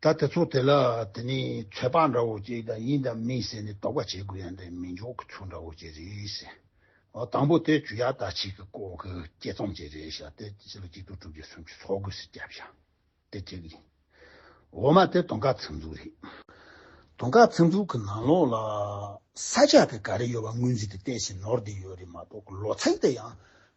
ད་དེ་ཚོ་དེ་ལ་དེ་ནི་ཚོད་དཔག་འདྲ་བོ་ཅིག་དང་ཡིན་དང་མིན་ཟེར་ནས་དོགས་པ་བྱེད་དགོས་ཡང་དེ་མི་འཇོག་གི་ཚུལ་འདྲ་བོ་ཅིག་རེད། དང་པོ་དེ་ཇུ་ཡ་ད་ཆིག་གི་སྐོར་གྱི་དཔྱད་རྩོམ་ཅིག་རེད་ཤག་དེ་ཕྱི་ལོ་གཅིག་དུག་དྲུག་བརྒྱ་སུམ་ཅུ་ཚོགས་དགོས་སུ་བསྐྱབས་ཤག་དེ་ཅིག་ཡིན། འོ་མ་དེ་དོང་ཁ་ཚིག་འཛུགས་རེད། དོང་ཁ་ཚིག་འཛུགས་གི་ནང་ལོགས་ལ་ས་ཆ་དེ་ག་རེ་ཡོད་པ་ངོས་འཛིན་དེ་བལྟས་ཤིང་ནོར་དེ་ཡོད་རེད་མ་གཏོགས་ལོ་ཚེགས་དེ་ཡང་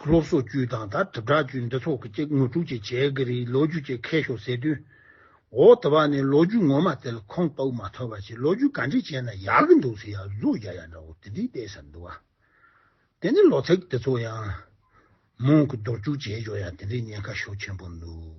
སློབ་གསོ་ཅུའུ་དང་དང་དྲིལ་བསྒྲགས་ཅུའི་འབྲེལ་ཚོགས་ཀྱི་སྐྱེ་དངོས་དྲུག་ཅེས་བྱའི་འགའ་རེའི་ལོ་རྒྱུས་ཀྱི་ཁེ་ཤོག་ཟེར་དུས། འོ་ད་བར་ནི་ལོ་རྒྱུས་ངོ་མ་དེར་ཁོང་དཔའ་བོ་མ་ཐོབ་པ་ཞིག་ལོ་རྒྱུས་ག་འདྲས་བྱས་ན་ཡག་གི་འདུག་ཟེར་ཡག་གཟུགས་རྒྱག་ཡག་འདྲ་བོ་དེ་འདྲས་བལྟས་ས་འདུག་ཨ། དེ་ནས་ལོ་ཚེགས་དེ་ཚོ་ཡང། མོང་གི་འདོར་རྒྱུག་བྱས་ཞོར་ཡང་དེ་འདྲས་ཉེན་ཁ་ཤོག་ཆེན་པོ་འདུག།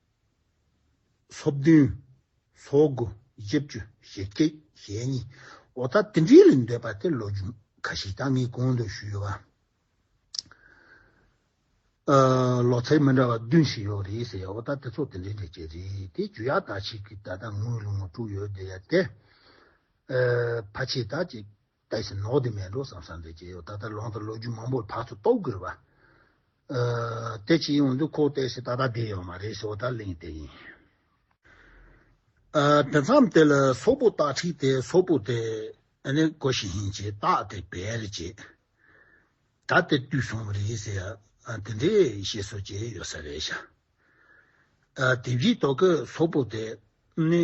སོ་བདུན། སོ་དགུ། བཞི་བཅུ། ཞེ་གཅིག། ཞེ་གཉིས། འོ་ད་དེ་འདྲའི་ལས་འདོད་པ་དེ་ལོ་རྒྱུས་ཁ་ཤས་ཀྱང་ངས་གོང་དུ་ཞུས་ཡོད། ལོ་ཚད་མི་འདྲ་བ་བདུན་ཞིག་ཡོད་རེད་ཟེར་ཡ་འོ་ད་དེ་ཚོ་དེ་འདྲའི་འདྲ་ཅན་རེད་དེ་རྒྱུ་ཡག་དག་ཞིག་གིས་ད་ལྟ་ངོས་ལུང་དཀྲུགས་ཡོད་དེ་ཡ་དེ། ཕ་ཆེ་དག་ཅིག། ད་བཞིན་ནོག་དེ་མེད་འགྲོ་བསམ་བསམ་དེ་ཇེ་ཡོག་ད་ལྟ་ལོང་དང་ལོ་རྒྱུས་མང་པོར་བག་ཆུ་གཏོགས་དགོས་པ། དེ་ཅི་ཡོང་འདུག་ཁོག་བལྟས་ཤིག་ད་ལྟ་དེ་ཡོག་མ་རེད་ཞོག་ད་གླེང་དེ་ཡིན། དེ་མཚམས་དེ་ལ་སོག་པོ་སྟག་ཁྲིད་དེ་སོག་པོ་དེ་ནི་གོ་བཞིན་ཡིན་ཅེས་སྟག་དེ་བེད་རེ་བྱས། ད་དེ་བཏུས་སོང་བ་རེད་ཟེར་ཡང་དེ་འདྲའི་ཤེས་སོ་ཇེ་ཡོད་ས་རེད་ཤག། དེ་བཞིན་དོ་ཀོས་སོག་པོ་དེ་ནི་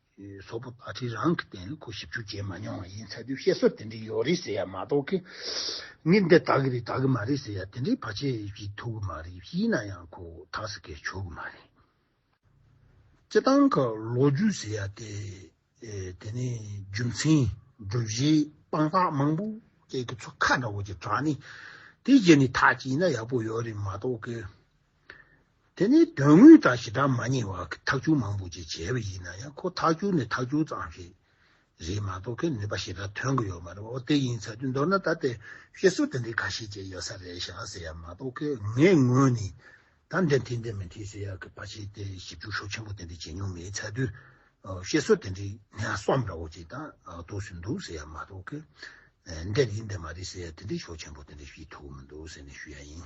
སོག་པོ་ཨ་ཁྲིས་རང་གི་རྟེན་ལ་ཁོ་ཞིབ་འཇུག་བྱས་མ་མྱོང་བ་ཡིན་ཚ་དུས་བཤད་སྲོལ་དེ་འདྲའི་ཡོད་རེད་ཟེར་ཡ་མ་གཏོགས་ཁེ་ངས་འདི་དག་གི་རེད་དག་གི་མ་རེད་ཟེར་ཡ་དེ་འདྲའི་བར་ཆད་ཞིག་ཐུག་གི་མ་རེད་ཤི་ན་ཡང་ཁོ་ཐག་ཟིག་གེར་ཆོད་གི་མ་རེད། སྤྱི་སྟངས་ཁག་ལོ་རྒྱུས་ཟེར་ཡ་དེ་དེ་ནས་རྒྱུ་མཚན་སྒྲུབ་གཞིའི་དཔང་རྟགས་མང་པོ་བཅས་ཀྱི་ཚོ་ཁ་འདྲ་བོ་ཅིག་དྲངས་ནས་དེའི་རྗེས་ནས་ཐག་བཅད་ན་ཡག་པོ་ཡོད་རེད་མ་གཏོགས་ཁེ། དེ་ནི་དོན་དངོས་དང་ཞི་དྲག་མ་ཉེ་བ་ཐག་ཆུ་མང་པོ་ཅིག་བྱས་པ་ཡིན་ན་ཡང་ཁོ་ཐག་ཆུ་ནི་ཐག་ཆུ་ཙམ་ཞིག་རེད་མ་གཏོགས་ཁོས་ནུས་པ་ཞེ་དྲག་ཐོན་གྱི་ཡོད་མ་རེད་འོ་དེ་ཡིན་ཚ་དུས་མདོར་ན་ད་ལྟའི་བཤད་སྲོལ་དེ་འདྲའི་ག་ཤེད་ཅིག་ཡོད་ས་རེད་ཤག་ཟེར་ཡག་མ་གཏོགས་ཁོས་ངའི་ངོས་ནས་ད་འདི་མཐུན་འདི་མི་མཐུན་ཟེར་ཡག་གི་བར་ཆད་དེ་ཞིབ་འཇུག་ཤོག་ཆེན་པོ་དེ་འདྲ་བྱེད་མྱོང་མེད་ཚ་དུས་བཤད་སྲོལ་དེ་འདྲའི་ནས་སོམས་འདྲ་བོ་ཅིག་ད་གཏོགས་སུ་འདུག་ཟེར་ཡག་མ་གཏོགས་ཁོས་འདི་འདི་འདི་མ་རེད་ཟེར་ཡག་དེ་འདྲའི་ཤོག་ཆེན་པོ་དེ་འདྲ་ཤེས་ཐུབ་ཀྱི་མི་འདུག་ཟེར་ནས་ཞུ་ཡག་ཡིན།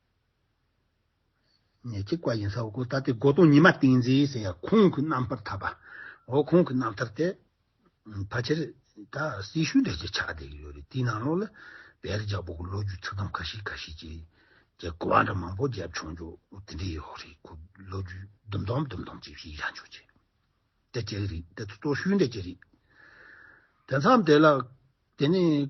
ནས་གཅིག་པ་ཡིན་ས་འོ་གོ་ད་ལྟའི་སྒོ་སྟོང་ཉི་མ་ཏིང་འཛིན་ཟེར་ཡ་ཁོང་གི་རྣམ་པར་ཐར་པ་འོ་ཁོང་གི་རྣམ་ཐར་དེ་ཕལ་ཆེར་ད་སྲི་ཞུ་འདྲ་ཅིག་ཆགས་བསྡད་ཀྱི་ཡོད་རེད་དེའི་ནང་ལོགས་ལ་བལ་རི་ཇག་པོ་གི་ལོ་རྒྱུས་ཚིག་དམ་ཁ་ཤས་ཁ་ཤས་ཀྱི་རྒྱ་གོ་བ་འདྲ་མང་པོ་རྒྱབ་ཆོག་འཇོག་དེ་འདྲའི་ཡོད་རེད་ཁོ་ལོ་རྒྱུས་ལྡུམ་དོམ་ལྡུམ་དོམ་ཅིག་ཞིག་ཡག་འཇོག་ཅིག་འདྲ་ཅིག་རེད་དེ་ཚོ་གཙོ་ཤུལ་འདྲ་ཅིག་རེད་དེ་མཚམས་དེ་ལ་དེ་ནས།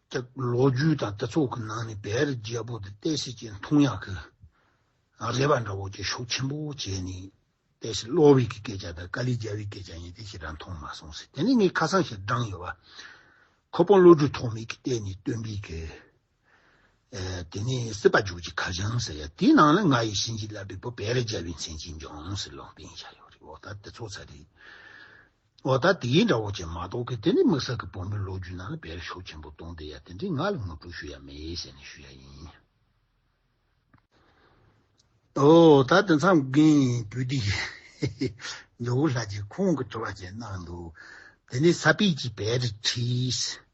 སྟེགས་ལོ་རྒྱུས་དང་སྡེ་ཚོགས་ཀྱི་ནང་ནས་བེེ་རི་རྒྱལ་པོ་དེ་ཏའེ་སི་ཅེན་ཐུང་ཡག་གི་རེད་པ་འདྲ་བོ་ཅེས་ཤུགས་ཆེན་པོ་བྱས་ནས་ཏའེ་སི་ལོ་ཝི་ཀི་སྐད་ཆ་དང་ཀ་ལི་རྒྱ་བྷི་སྐད་ཆ་གཉིས་དེ་ཞེ་དྲག་མཐོང་མ་སོང་ཟེར་དེ་ནི་ངས་ཁ་སང་ཞིག་བགྲངས་ཡོད་པ་ཁོ་པོ་བློ་གྲོས་ཐོགས་མེད་ཀྱིས་བལྟས་ནས་བཏོན་པའི་གི་དེ་ནི་སྲིད་པ་འཇུག་ཅིག་ཁ་བྱང་ཟེར་ཡ་དེའི་ནང་ལ་ང་ཡི་བྱིན་གྱིས་བརླབས་པའི་བུ་བེེ་རི་རྒྱལ་བའི་མཚན་གྱིས་འབྱུང་ཟེར་ལུང་བསྟན་བཞག་ཡོད་རེད་འོ་ད་དེ་ཚོ་ཚ་རེད། འོ་ད་དེའི་འདྲ་བོ་ཅན་མ་གཏོགས་ཀི་དེ་ནི་དམིགས་བསལ་གི་བོད་མི་ལོ་རྒྱུས་ནང་ལ་འབེལ་ཤོག་ཆེན་པོ་གཏོང་བསྡད་ཡ་དེ་འདྲའི་ངག་ལས་ངོ་སྤྲོད་ཞུ་ཡ་མེད་ཟེར་ནས་ཞུ་ཡ་ཡིན། འོ་ད་དེ་མཚམས་རྒན་བུ་དེ་ཡིན། ནོར་བུ་ལྷ་རྗེ་ཁོང་གི་དྲི་བ་ཅན་གནང་འདུག་དེ་ནས་ས་པིས་ཀྱིས་བེ་རི་ཁྲིས།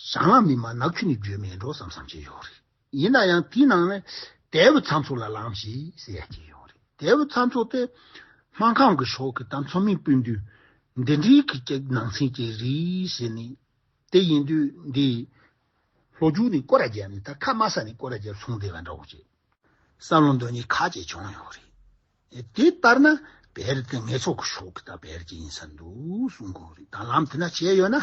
བཟང་ལག་མི་སྨྲ་ནག་ཆུ་ནི་འགྱོད་མེད་འགྲོ་བསམ་བསམ་བྱེད་ཡོད་རེད། ཡིན་ན་ཡང་དེའི་ནང་ནས་དལ་བུ་ཚ་མཚོ་ལ་ལངས་ཞེས་ཟེར་ཡ་སྐྱེས་ཡོད་རེད། དལ་བུ་ཚ་མཚོ་དེ་སྨན་ཁང་གི་ཕྱོགས་ཀྱི་ད་མཚོ་མིང་སྤུན་དུས་འདི་འདྲིའི་གི་ཀྱི་ནང་ཚན་གྱི་རིགས་ཞེས་ནི། དེ་ཡིན་དུས་འདི་ལྷོ་རྒྱུད་ནི་ཀོ་ར་རྒྱལ་ནི་ད་ཁ་དམའ་ས་ནི་ཀོ་ར་རྒྱལ་ལྷུང་བདེ་བ་འདྲ་བོ་བྱེད། བསམ་བློ་འདོན་ཉི་ཁ་བཅས་བྱུང་ཡོད་རེད། དེ་ལྟར་ན་བེར་དེ་ངེད་ཚོགས་ཀྱི་ཕྱོགས་ཀྱི་ད་བེར་གྱི་ཡིན་ས་འདུག་གསུང་གི་རེད་ད་ལམ་དེ་འདྲ་བྱས་ཡོད་ན།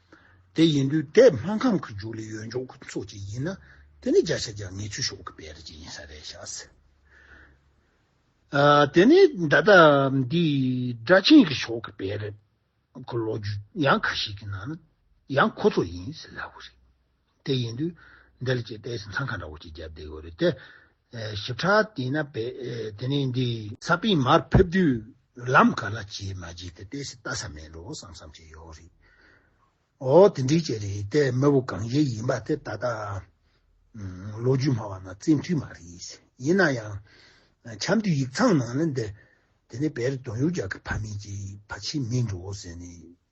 དེ་ཡིན་དུས་དེ་སྨན་ཁང་གི་རྒྱུགས་ལས་ཡོན་འཇོག་གི་ཚོགས་ཅིག་ཡིན་ན་དེ་ནི་བརྒྱ་ཆ་བརྒྱ་ངེས་ཆོད་ཤོག་གི་དཔེ་རེ་ཅིག་ཡིན་ས་རེད་ཤག་སེ། དེ་ནི་ད་ལྟ་འདི་སྦྲ་ཆེན་གྱི་ཕྱོགས་ཀྱི་དཔེ་རེད་གི་ལོ་རྒྱུས་ཡང་ཁ་ཤས་ཀྱི་ནང་ཡང་ཁོ་ཚོ་ཡིན་ཟེར་སླ་བོ་རེད། དེ་ཡིན་དུས་འདིར་ཅེས་པས་སེམས་ཚང་ག་འདྲ་བོ་ཞིག་བརྒྱབ་བསྡད་དགོས་རེད་དེ། ཞིབ་ཕྲ་བལྟས་ན་བས་དེ་ནས་འདི། ས་པིན་མར་ཕེབས་དུས་ལམ་ག་ལ་བྱེད་མ་བྱེད་དེ་པས་སེ་བལྟ་ས་མེད་རོགས་བསམ་བསམ་བྱས་ཡོད་རེད། ཨོ་དེ་འདྲའི་ཅི་རེད་དེ་མི་བུ་གང་ཞིག་ཡིན་པ་དེ་ད་ལྟ། ལོ་རྒྱུས་སྨྲ་བ་ན་བཙན་ཐུས་མ་རེད། ཡིན་ན་ཡང། འཆམ་དུས་ཡིག་ཚང་ནང་ལ་འདི། དེ་ནས་བལ་དོན་ཡོ་རྒྱག་གི་ཕ་མེས་ཀྱིས་ཕ་ཆེ་མིན་འགྲོ་ཟེར་ནས་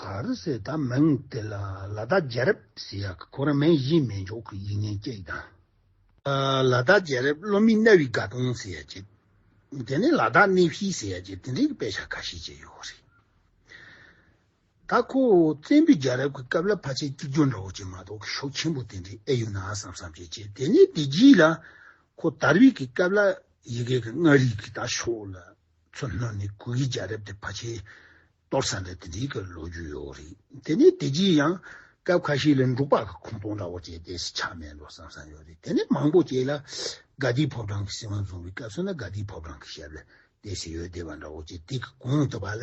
གར་སའི་ད་མིང་དེ་ལ་ལ་དྭགས་རྒྱལ་རབས་ཟེར་ཡག་གི་ཁོ་རང་མེ་གཞིའི་མེ་འཇོག་གི་ཡིག་ངན་སྐྱེས་དང། ལ་དྭགས་རྒྱལ་རབས་སློབ་མའི་གནའ་བོའི་དགའ་སྟོན་ཟེར་ཡག་སྐྱེས། དེ་ནས་ལ་དྭགས་གནས་བཞི་ཟེར་ཡག་སྐྱེས་དེ་འདྲའི་དཔེ་ཆ་ཁ་ཤས་ཀྱང་ཡོད་རེད། ད་ཁོ་བོ་བཙན་པོའི་རྒྱལ་རབས་ཀྱི་སྐབས་ལ་ཕ་ཆད་གཅིག་གྱུར་འདྲ་བོ་ཅིག་མ་གཏོགས་ཤོག་ཆེན་པོ་དེ་འདྲའི་ཨེ་ཡོད་ན་བསམ་བསམ་བྱས་བྱས་དེ་ནས་དེ་རྗེས་ལ་ཁོ་དར་བའི་གི་སྐབས་ལ་ཡི་གེ་གི་མངའ་རིས་ཀྱི་ད་ཤོག་ལ་མཚོ་སྣ་ནི་སྐུ་ཡི་རྒྱལ་རབས་ཏེ་བ་ཆེ་གཏོར་ས་འདྲ་དེ་འདྲའི་ལོ་རྒྱུས་ཡོད་རེད་དེ་ནས་དེ་རྗེས་ཡང་སྐབས་ཁ་ཤས་ལ་འབྲུག་པ་གི་ཁུངས་གཏོགས་འདྲ་བོ་བྱས་ཏེ་ཆག་མེད་ལོ་བསམ་ས་ཡོད་རེད་དེ་ནས་མང་པོ་བྱས་ལ་དགའ་ལྡིའི་ཕོ་བྲང་གི་སྲིད་དབང་བཟུང་བའི་སྐབས་སུ་ན་དགའ་ལྡིའི་ཕོ་བྲང་གི་ཞབས་ལ་དེ་སྲིད་ཡོད་བདེ་བ་འདྲ་བོ་བྱས་དེ་གི་གུང་དུ་བ་ལ་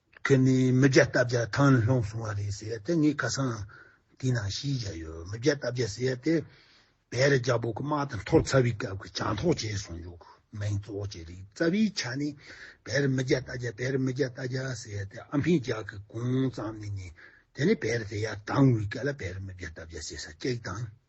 ཁྱོད་ནི་མི་བརྒྱ་རྟ་བརྒྱ་ཐང་ནས་ལྷུང་སོང་བ་རེད་ཟེར་ཡ་དེ་ངའི་ཁ་སང་དེའི་ནང་ཤི་བཞག་ཡོད་མི་བརྒྱ་རྟ་བརྒྱ་ཟེར་ཡ་དེ་བལ་རི་རྒྱ་བོད་ཀྱི་དམག་དང་ཐོག་ཚ་བའི་སྐབས་ཀྱི་བྱང་ཐོག་བྱས་སོང་འཇུག་མིང་གཙོ་བོ་བྱས་རིག་རྩ་བའི་ཆ་ནས་བལ་རི་མི་བརྒྱ་རྟ་བརྒྱ་བལ་རི་མི་བརྒྱ་རྟ་བརྒྱ་ཟེར་ཡ་དེ་ཨ་ཕའི་ལྗགས་ཀྱི་གོང་ཙམ་ནས་ནས་དེ་ནས་བལ་རི་དེ་ཡར་དྭངས་བའི་སྐབས་ལ་བལ་རི་མི་བརྒྱ་རྟ་བརྒྱ་ཟེར་ས་སྐྱེགས་དང།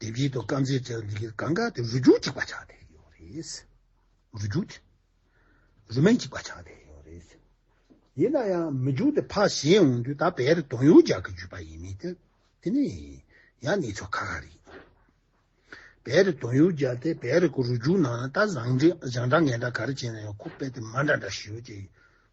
དེ་བཞིན་དུ་དཀར་མཛེས་བྲལ་བ་འདི་གའི་གང་གཱ་དེ་རུ་གྱུར་ཅིག་པ་ཆགས་ཏེ་ཡོད་རེད། རུ་གྱུར་ཏེ་རུ་མེན་ཅིག་པ་ཆགས་ཏེ་ཡོད་རེད། ཡིན་ན་ཡང་མི་འགྱུར་ཏེ་ཕ་གཞན་འོང་དུས་ད་བེ་རི་དོང་ཡོ་རྒྱག་གི་འཇུས་པ་ཡིན་མི་ཏེ་དེ་ནི་ཡང་གནས་ཚུལ་ཁ་ཁ་རེད། བེ་རི་དོང་ཡོ་རྒྱག་དེ་བེ་རི་ཀུ་རུ་གྱུར་ན་ད་བཟང་འདྲ་ངན་འདྲ་ག་རེ་བྱས་ན་ཡང་ཁུག་པས་དེ་མ་འདྲ་འདྲ་ཞུ་ཅེས།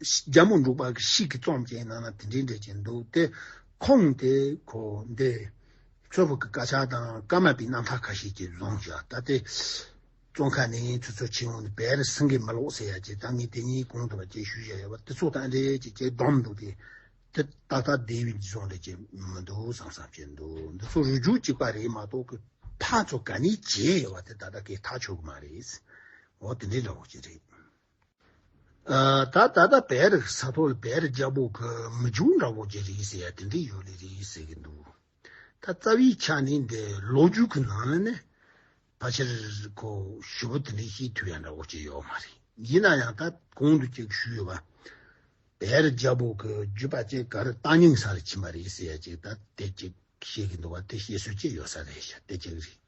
རྒྱ་མོ་འབྲུག་པ་ཞིག་གིས་རྩོམ་གྱི་ནང་ན་དེ་འདྲའི་འགྲེལ་གྱིན་འདུག་སྟེ། ཁོང་དེ་གོ་འདི། ཁྱོད་ཕོ་གི་དཀར་ཆག་དང་དཀར་མ་པའི་རྣམ་ཐར་ཁ་ཤས་ཀྱིས་རྫོང་བྱས་ད་ལྟའི་རྩོམ་ཁ་ནས་ཁྱོད་ཚོ་ཕྱི་ཡོང་ནས་བེར་སེང་གེ་མ་ལོག་ཟེར་ཡ་ཅེས་ད་ངས་དེ་གཉིས་གོང་དུ་བ་ཅེས་ཞུ་བཞག་ཡོད་པ་དེ་ཚོ་དང་འདྲེས་ཀྱི་ཅེས་བསྡོམས་འདུག་སྟེ། དེ་ད་ལྟ་སྡེ་བའི་རྫོང་འདྲེས་ཀྱི་མི་འདུག་བསམ་བསམ་བྱས་འདུག་འདི་ཚོ་རུས་རྒྱུད་གཅིག་པ་རེད་མ་གཏོགས་ཀི་ཐག་ཚོ་ག་ནས་བྱས་ཡོད་པ་དེ་ད་ལྟ་ཀི་ཐག་ཆོད་གི་མ་རེད། འོ་དེ་འདྲའི་འདྲ་བོ་ཅིག་རེད། ད་ད་ད་བེ་རི་ས་ཐོ་ལ་བེ་རི་རྒྱལ་པོ་གི་མི་ཆུང་འདྲ་བོ་གྱི་རིགས་ཟེར་ཡ་དེ་འདྲས་ཡོད་ལེ་རེད་ཟེར་གྱི་འདུག་ད་རྩ་བའི་ཆ་ནས་འདི་ལོ་རྒྱུས་ཀྱི་ནང་ལ་ནི་ཕལ་ཆེར་ཁོ་ཞུ་བོ་དེ་འདྲས་ཤེས་ཐུབ་ཡ་འདྲ་བོ་གྱི་ཡོད་མ་རེད་ཡིན་ན་ཡང་ད་གོང་དུ་ཅིག་ཞུས་ཡོད་པ་བེ་རི་རྒྱལ་པོ་གི་རྒྱུད་པ་ཅིག་ག་རི་རྟ་རྙིང་ས་ལ་ཕྱིན་པ་རེད་ཟེར་ཡ་ཅིག་ད་དེ་ཅིག་ཤེས་གྱི་འདུག་བ་དེ་ཤེས་སྲོལ་ཅིག་ཡོད་ས་རེད་ཤ་དེ་ཅིག་རེད།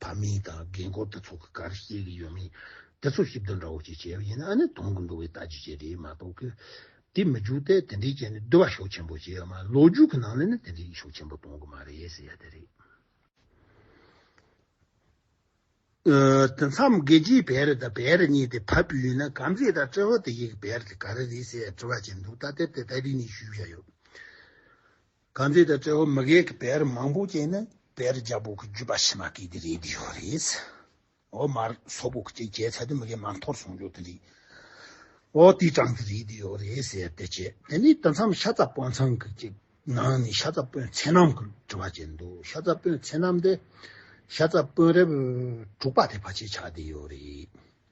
བ་མིན་དང་རྒན་བཀུར་དེ་ཚོ་གི་གར་ཤེས་གི་ཡོད་མིན་དེ་ཚོ་ཞིབ་བསྡུར་འདྲ་བོ་ཞིག་བྱས་པ་ཡིན་ན་ཨ་ནི་དོན་གི་འགྲོ་བའི་ལྟ་རྒྱུ་ཞིག་རེད་མ་གཏོགས་གི། དེ་མི་འཇུག་སྟེ་དེ་འདྲའི་རྐྱེན་ནི་བསྡུར་བ་ཤུགས་ཆེན་པོ་བྱེད་ཡོད་མ་རེད་ལོ་རྒྱུས་གི་ནང་ལས་ནི་དེ་འདྲའི་ཡིག་ཤུགས་ཆེན་པོ་གཏོང་གི་མ་རེད་ཟེར་ཡ་དེ་རེད། དེ་མཚམས་རྒྱལ་སྤྱིའི་བེ་རི་དང་བེ་རི་གཉིས་དེ་ཕབ་རྒྱུ་ཡིན་ན་གམ་ཚིག་དང་ཏྲེ་ཧོ་དེ་གཉིས་ཀྱི་བེ་རི་དེ་ག་རེ་རེད་ཟེར་ཡ་དྲི་བ་བྱེད་འདུག་ད་ལྟའི་བར་དེ་ལྟ་དྲི་གཉིས་ཞུས་བཞག་ཡོད། གང་དེ་ལྟར་དཔྲལ་བ་མི་རྒས་ཀྱི་བེར་མང་པོ་བཅས་ནི་བེར་རྒྱ་བོ་གི་རྒྱུད་པ་ཕྱི་མ་གི་དེ་རེད་དེ་ཡོད་རེད། འོ་མར་སོག་པོ་གི་ཅེས་བྱས་ཚད་དུ་མི་རྒས་མ་འཐོར་སོང་ཡོད་དེ་རེད། འོ་དེའི་གྲངས་དེ་རེད་དེ་ཡོད་རེད་ཟེར་དེ་བྱས་དེ་ནས་དེ་མཚམས་ཤ་ཚ་དཔོན་ཚང་གི་ཅེས་ནང་ནས་ཤ་ཚ་དཔོན་མཚན་རྣམས་ཀྱི་དྲི་བ་བྱས་འདུག་ཤ་ཚ་དཔོན་མཚན་རྣམས་དེ་ཤ་ཚ་དཔོན་རེབ་དྲུག་པ་དེ་ཕ་ཆེ་བྱ་དེ་ཡོད་རེད།